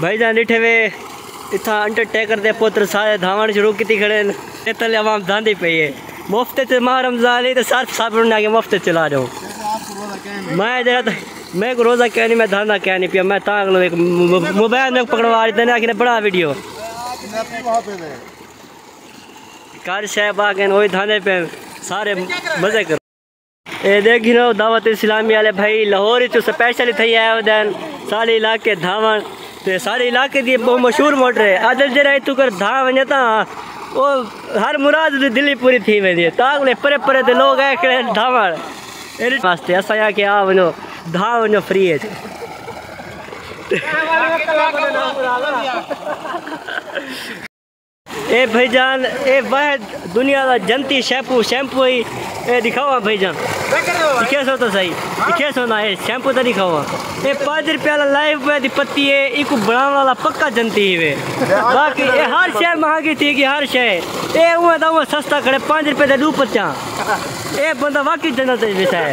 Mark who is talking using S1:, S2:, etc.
S1: بھائی جان ڈٹھے وے اتھا انٹر ٹیکر دے پوتر سارے دھاون شروع کیتی کھڑے ہیں تے تلے عوام دھاندی پئی ہے مفت تے ماہ رمضان علی تے سارے صاحب نے کہ مفت چلا دو میں جڑا میں کو روزہ کہنی میں دھاندا کہنی پیا میں تاں اگلو ایک موبائل میں پکڑوا دیتے نے آکھنے بڑا ویڈیو کار شے باگن وہی دھاندے پے سارے مزے کر اے دیکھ گھنو دعوت اسلامی والے بھائی لاہور وچ سپیشل تھئی آئے ودن سارے علاقے دھاون تے سارے علاقے دی بہت مشہور موٹر ہے ادل جڑا ایتھوں کر دھا ونجے تاں او ہر مراد دی دلی پوری تھی ویندی ہے تاں کلے پرے پرے دے لوگ آئے کھڑے دھاون ایڈی واسطے اساں یا کہ آ ونجو دھا ونجو فری ہے اے بھائی جان اے واحد دنیا دا جنتی شیمپو شیمپو ہی اے دکھاوا بھائی جان دکھے سو تو صحیح دکھے سو نا اے شیمپو تے دکھاوا اے پانچ روپے والا لائف بوائے دی پتی اے ایکو بناون والا پکا جنتی ہی وے باقی اے ہر شے مہنگی تھی گی ہر شے اے اوہ دا اوہ سستا کھڑے پانچ روپے دے دو پتیاں اے بندہ واقعی جنت وچ وسائے